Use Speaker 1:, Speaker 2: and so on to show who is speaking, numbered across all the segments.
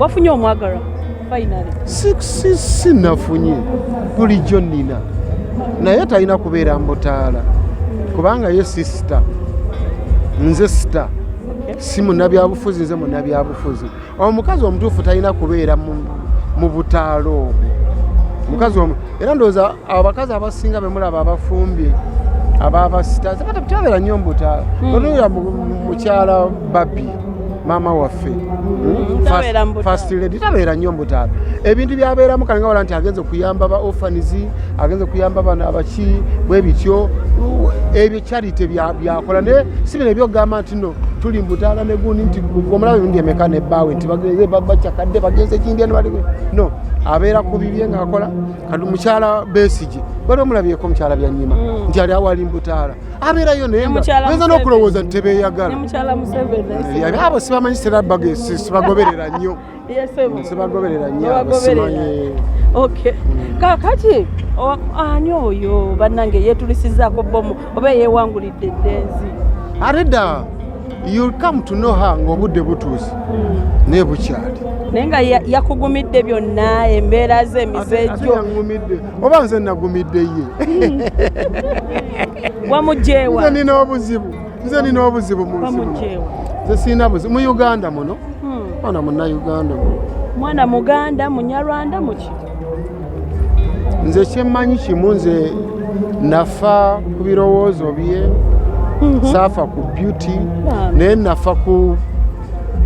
Speaker 1: wafunye omwagala si
Speaker 2: nafunye bulijjo nina naye talina kubeera mbutaala kubanga ye si sita nze sita si munabyabufuzi nze munabyabufuzi omukazi omutuufu talina kubeera mu butaala obwo mukazi omu era ndowooza abakazi abasinga bemulaba abafumbye ababasita tebabeera nnyo mbutaala hmm. onoya mukyala babbi maama waffe hmm? first lady tabeera nnyo mbutaala ebintu byabeeramu kale nga wala nti agenze kuyamba ba orphans agenze kuyamba bana abaki bwe bityo ebyo charity byakola naye si bino ebyokugamba nti no tuli mbutaala negundi nti omulaba ebirundi emeka nebbaawe nti bagenze bacakadde bagenze ekindi eno bali no abeera ku bibye ngaakola kati mukyala besigi wali omulabyeko mukyala byanyima hmm. nti ali awali mbutaala abeerayo nayeyinza n'okulowooza nti tebeyagala abo sibamanyi sibagoberera nnyo sibagoberera nnyo
Speaker 1: kakati ani oyo bannange yeetulisizaako bomu oba eyewangulidde eddenzi ate dda
Speaker 2: you'll come to know her ng'obudde butuuse hmm. naye bukyali naye nga
Speaker 1: yakugumidde byonna embeera ze emize gyo oba
Speaker 2: nze nagumidde ye
Speaker 1: wamugyewa nze nina obuzibu
Speaker 2: nze nina obuzibu munsi nze sirina buzibu mu uganda muno hmm. mwana munauganda mwana
Speaker 1: muganda munyarwanda muki
Speaker 2: nze kyemmanyi kimu nze nafa ku birowoozo bye mhm. saafa ku beauty naye nafa ku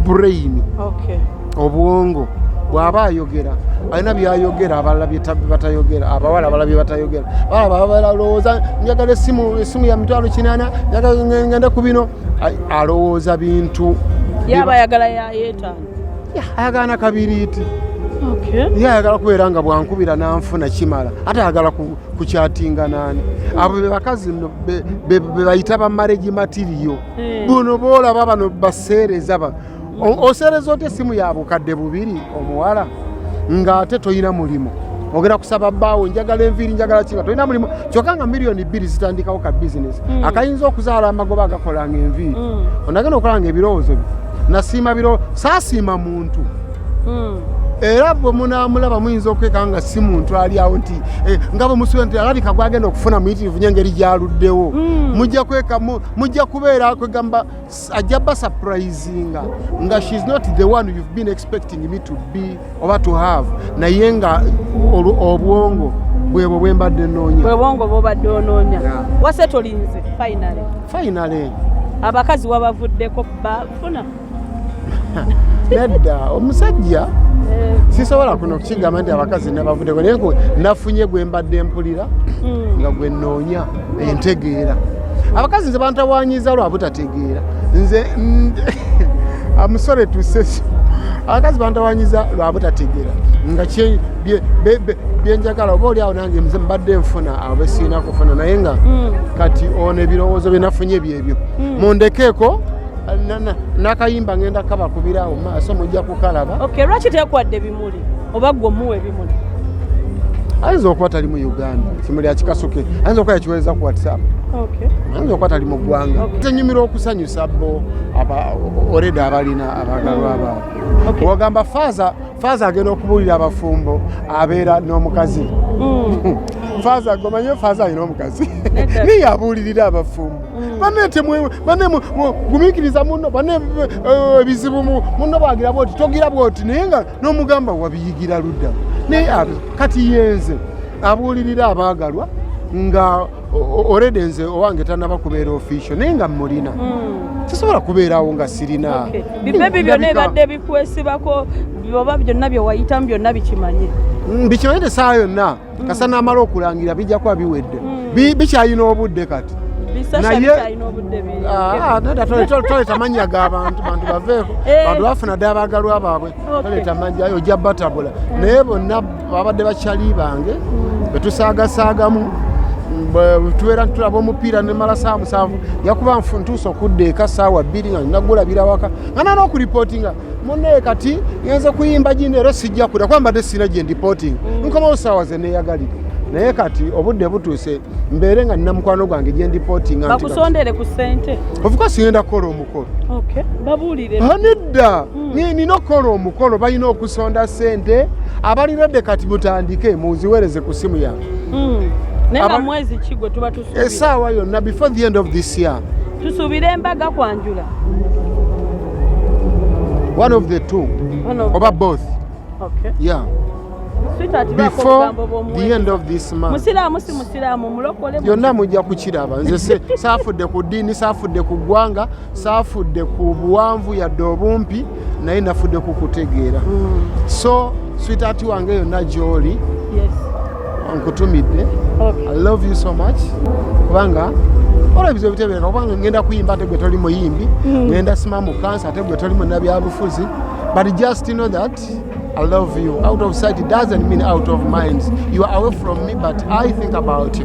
Speaker 2: brain okay. obwongo bwaba ayogera alina byayogera abalala batayogera abawala abala byebatayogera balowooza njagala esimu esimu ya mitwalo kinana ngende ku bino alowooza bintu yaba ayagala
Speaker 1: yayetano ayagala na
Speaker 2: kabiriiti ye ayagala kubeera nga bwankubira nanfuna kimala ate ayagala kukyatinga nani abo bebakazi no bebayita bamaregi matiriyo eh. buno boolaba bano baseereza osereza oti esimu ya bukadde bubiri omuwala ng'ate tolina mulimu ogera kusaba bbaawo njagala enviiri njagala kinga tolina mulimu kyokka nga miliyoni bbiri zitandikawo ka bizinesi mm. akayinza okuzaala amagoba agakolanga enviiri mm. onagenda okolanga ebirowoozo byo nasiima biro saasiima muntu mm. era bwe munaamulaba muyinza okwekanga nga si muntu ali awo nti eh, nga bwe musuubira nti alabika gwagenda okufuna muyitirivu nyo engeri gyaluddewo mujja kwekamu mujja kubeera kwegamba ajja basupurisinga nga shes not the one you've been expecting me to be oba to have naye nga obwongo bwebwo bwembadde noonya bwebwongo bwobadde
Speaker 1: onoonya wase tolinze finally finally
Speaker 2: abakazi
Speaker 1: wabavuddeko bafuna nedda
Speaker 2: omusajja eh. sisobola kuno kukigamba nti abakazi nabavuddeko naye nafunye gwembadde mpulira hmm. nga gwenoonya entegeera abakazi nze bantawanyiza lwa butategeera nze amusore tusesi abakazi bantawanyiza lwa butategeera nga byenjagala oba oliawo nange nze mbadde nfuna abo besiina kufuna naye nga mm. kati ono ebirowoozo byenafunye byebyo mm. mundekeeko nakayimba ngenda kabakubirawo maaso mujja kukalaba lwaki tekwadde
Speaker 1: bimuli oba gwe omuwa ebimuli
Speaker 2: ayinza okuba tali mu uganda kimuli akikasuke ayinza okuba yakiwereza ku whatsapp ayinza okuba tali mu ggwanga zenyumira okusanyusa bo oreda abalina abagalwa mm. baabwe wagamba faaza faaza agenda okubuulira abafumbo abeera n'omukazi mm. faaza gomanyo faaza alina omukazi naye yabuulirira abafumbo mm. bane temwe bane gumikiriza muno bane eh, ebizibu muno bagira bwoti togira bwoti naye nga n'omugamba wabiyigira ludda naye ah, kati yenze abuulirira abaagalwa nga orede nze owange tanaba kubeera ofisio naye nga mulina mm. sisobola kubeerawo nga sirina bibebi byonna
Speaker 1: ebadde bikwesibako oba byonna byewayitamu byonna bikimanye mm, bikimanye
Speaker 2: tesaawa yonna kasa namala okulangira bijja kuba biwedde hmm. bikyalina obudde kati toleta ah, mannya gabantu bantu baveeko eh. bantu bafuna dda abagalwa baabwe toleta mannya yo ojja batabula hmm. naye bonna babadde bakyali bange hmm. betusaagasaagamu tubeera ntulaba omupiira nemala saa musanvu yakuba ntuusa okudda eka saawa bbiri nga nagulabira waka nga nana okuripootinga mune kati ngenze kuyimba gino era sijja kuda kuba mbadde sirina gye ndipoting mm. nkomawo saawa ze neeyagalire naye kati obudde butuuse mbeere nga nina mukwano gwange gye ndipotingabakusondere ku sente
Speaker 1: ofuka sigenda kukola
Speaker 2: omukolo nedda mm. nina okukola omukolo balina okusonda sente abalirade kati butandike muziwereze ku simu yange mm.
Speaker 1: esaawa yonna before
Speaker 2: the end of this year
Speaker 1: tusuubira
Speaker 2: embaga kwanjula one of the two oba both okay. yeah
Speaker 1: yonna mujja kukiraba
Speaker 2: nze saafudde ku ddiini saafudde ku ggwanga saafudde ku buwanvu yadde obumpi naye nafudde kukutegeera mm. so sweetheart wange yonna gyoli nkutumidde i love you so much kubanga olabisa ebitebeereka kubanga ngenda kuyimba ate gwe toli muyimbi mm. ngenda sima mu kansa ate gwe toli munabyabufuzi but just know that I love you. Out of sight it doesn't mean out of mind. You are away from me, but I think about you.